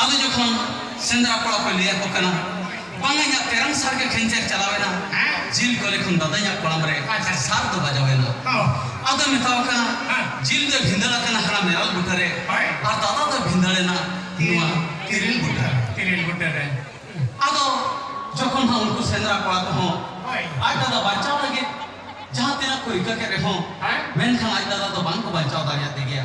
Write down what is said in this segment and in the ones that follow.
ᱟᱫᱚ ᱡᱚᱠᱷᱚᱱ ᱥᱮᱸᱫᱽᱨᱟ ᱠᱚᱲᱟ ᱠᱚ ᱞᱟᱹᱭ ᱟᱠᱚ ᱠᱟᱱᱟ ᱵᱟᱝ ᱤᱧᱟᱹᱜ ᱛᱮᱨᱟᱝ ᱥᱟᱨ ᱜᱮ ᱠᱷᱮᱧᱪᱮᱨ ᱪᱟᱞᱟᱣᱮᱱᱟ ᱡᱤᱞ ᱠᱚᱞᱮ ᱠᱷᱚᱱ ᱫᱟᱫᱟ ᱤᱧᱟᱹᱜ ᱠᱚᱲᱟᱢ ᱨᱮ ᱥᱟᱨ ᱫᱚ ᱵᱟᱡᱟᱣᱮᱱᱟ ᱟᱫᱚ ᱢᱮᱛᱟᱣ ᱠᱟᱱᱟ ᱡᱤᱞ ᱫᱚ ᱵᱷᱤᱸᱫᱟᱹᱲ ᱟᱠᱟᱱᱟ ᱦᱟᱱᱟ ᱢᱮᱨᱟᱞ ᱵᱩᱴᱟᱹ ᱨᱮ ᱟᱨ ᱫᱟᱫᱟ ᱫᱚ ᱵᱷᱤᱸᱫᱟᱹᱲᱮᱱᱟ ᱱᱚᱣᱟ ᱛᱤᱨᱤᱞ ᱵᱩᱴᱟᱹ ᱛᱤᱨᱤᱞ ᱵᱩᱴᱟᱹ ᱨᱮ ᱟᱫᱚ ᱡᱚᱠᱷᱚᱱ ᱦᱚᱸ ᱩᱱᱠᱩ ᱥᱮᱸᱫᱽᱨᱟ ᱠᱚᱲᱟ ᱠᱚᱦᱚᱸ ᱟᱡ ᱫᱟᱫᱟ ᱵᱟᱧᱪᱟᱣ ᱞᱟᱹᱜᱤᱫ ᱡᱟᱦᱟᱸ ᱛᱤᱱᱟᱹᱜ ᱠᱚ ᱨᱤᱠᱟᱹ ᱠᱮᱫ ᱨᱮᱦᱚᱸ ᱢᱮᱱᱠᱷᱟᱱ ᱟᱡ ᱫᱟᱫᱟ ᱫᱚ ᱵᱟᱝ ᱠᱚ ᱵᱟᱧᱪᱟᱣ ᱫᱟᱲᱮᱭᱟᱫᱮ ᱜᱮᱭᱟ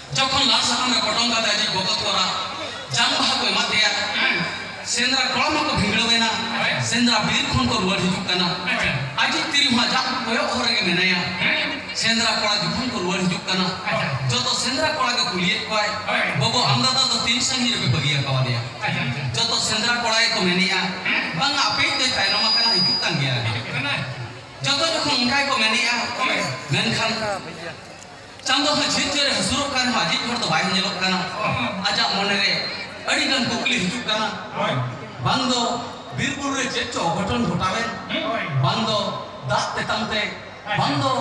ᱡᱚᱠᱷᱚᱱ ᱞᱟᱞ ᱥᱟᱠᱟᱢ ᱨᱮ ᱯᱚᱴᱚᱢ ᱠᱟᱛᱮ ᱟᱡᱤᱡ ᱵᱚᱠᱚᱛ ᱠᱚᱲᱟ ᱡᱟᱝ ᱵᱟᱦᱟ ᱠᱚ ᱮᱢᱟ ᱫᱮᱭᱟ ᱥᱮᱸᱫᱽᱨᱟ ᱠᱚᱲᱟ ᱢᱟᱠᱚ ᱵᱷᱤᱸᱫᱲᱟᱹᱣᱮᱱᱟ ᱥᱮᱸᱫᱽᱨᱟ ᱵᱤᱨ ᱠᱷᱚᱱ ᱠᱚ ᱨᱩᱣᱟᱹᱲ ᱦᱤᱡᱩᱜ ᱠᱟᱱᱟ ᱟᱡᱤᱡ ᱛᱤᱨᱤ ᱦᱚᱸ ᱟᱡᱟᱜ ᱠᱚᱭᱚᱜ ᱦᱚᱨ ᱨᱮᱜᱮ ᱢᱮᱱᱟᱭᱟ ᱥᱮᱸᱫᱽᱨᱟ ᱠᱚᱲᱟ ᱡᱚᱠᱷᱚᱱ ᱠᱚ ᱨᱩᱣᱟᱹᱲ ᱦᱤᱡᱩᱜ ᱠᱟᱱᱟ ᱡᱚᱛᱚ ᱥᱮᱸᱫᱽᱨᱟ ᱠᱚᱲᱟ ᱜᱮ ᱠᱩᱞᱤᱭᱮᱫ ᱠᱚᱣᱟᱭ ᱵᱟᱹᱵᱩ ᱟᱢ ᱫᱟᱫᱟ ᱫᱚ ᱛᱤᱱ ᱥᱟᱺᱜᱤᱧ ᱨᱮᱯᱮ ᱵᱟᱹᱜᱤ ᱟᱠᱟᱣᱟᱫᱮᱭᱟ ᱡᱚᱛᱚ ᱥᱮᱸᱫᱽᱨᱟ ᱠᱚᱲᱟ ᱜᱮᱠᱚ ᱢᱮᱱᱮᱜᱼᱟ ᱵᱟᱝ ᱟᱯᱮᱭᱤᱡ ᱫᱚᱭ ᱛᱟᱭᱱᱚᱢ ᱟᱠᱟᱱᱟ ᱦᱤᱡᱩᱜ ᱠᱟᱱ ᱜᱮᱭᱟ ᱡᱚᱛᱚ ᱡᱚᱠᱷᱚᱱ ᱚᱱᱠᱟ ᱜᱮᱠᱚ ᱢᱮᱱᱮᱜᱼᱟ ᱢᱮᱱᱠᱷᱟᱱ ᱪᱟᱸᱫᱚ ᱦᱚᱸ ᱡᱷᱤᱨ ᱡᱷᱤᱨᱮ ᱦᱟᱹᱥᱩᱨᱚᱜ ᱠᱟᱱ ᱨᱮᱦᱚᱸ ᱟᱡᱤᱡ ᱦᱚᱲ ᱫᱚ ᱵᱟᱭ ᱧᱮᱞᱚᱜ ᱠᱟᱱᱟ ᱟᱡᱟᱜ ᱢᱚᱱᱮ ᱨᱮ ᱟᱹᱰᱤ ᱜᱟᱱ ᱠᱩᱠᱞᱤ ᱦᱤᱡᱩᱜ ᱠᱟᱱᱟ ᱵᱟᱝ ᱫᱚ ᱵᱤᱨ ᱵᱩᱨᱩ ᱨᱮ ᱪᱮᱫ ᱪᱚ ᱚᱜᱷᱚᱴᱚᱱ ᱜᱷᱚᱴᱟᱣᱮᱱ ᱵᱟᱝ ᱫᱚ ᱫᱟᱜ ᱛᱮᱛᱟᱝ ᱛᱮ ᱵᱟᱝ ᱫᱚ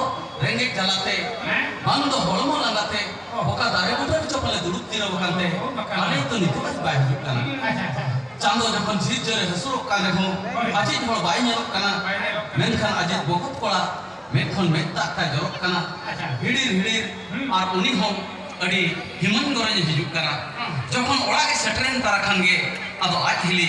ᱨᱮᱸᱜᱮᱡ ᱡᱟᱞᱟ ᱛᱮ ᱵᱟᱝ ᱫᱚ ᱦᱚᱲᱢᱚ ᱞᱟᱸᱜᱟ ᱛᱮ ᱚᱠᱟ ᱫᱟᱨᱮ ᱵᱩᱴᱟᱹ ᱨᱮ ᱪᱚ ᱯᱟᱞᱮ ᱫᱩᱲᱩᱵ ᱡᱤᱨᱟᱹᱣ ᱟᱠᱟᱱ ᱛᱮ ᱟᱞᱮ ᱛᱚ ᱱᱤᱛᱚᱜ ᱟᱡ ᱵᱟᱭ ᱦᱤᱡᱩᱜ ᱠᱟᱱᱟ ᱪᱟᱸᱫᱚ ᱡᱚᱠᱷᱚᱱ ᱡᱷᱤᱨ ᱡᱷᱤᱨᱮ ᱦᱟᱹᱥᱩᱨᱚᱜ ᱠᱟᱱ ᱨᱮᱦᱚᱸ ᱟᱡᱤᱡ ᱦᱚᱲ ᱵᱟᱭ ᱧᱮᱞᱚᱜ ᱠᱟᱱᱟ ᱢᱮᱱᱠᱷᱟᱱ ᱟᱡᱤᱡ ᱵᱚᱠᱚᱛ ᱠᱚᱲᱟ ᱢᱮᱫ ᱠᱷᱚᱱ ᱢᱮᱫ ᱫᱟᱜ ᱛᱟᱭ ᱡᱚᱨᱚᱜ ᱠᱟᱱᱟ ᱦᱤᱲᱤᱨ ᱦᱤᱲᱤᱨ ᱟᱨ ᱩᱱᱤ ᱦᱚᱸ ᱟᱹᱰᱤ ᱦᱤᱢᱟᱹᱞ ᱜᱚᱨᱚᱡᱽ ᱮ ᱦᱤᱡᱩᱜ ᱠᱟᱱᱟ ᱡᱚᱠᱷᱚᱱ ᱚᱲᱟᱜ ᱮ ᱥᱮᱴᱮᱨᱮᱱ ᱛᱟᱨᱟ ᱠᱷᱟᱱ ᱜᱮ ᱟᱫᱚ ᱟᱡ ᱦᱤᱞᱤ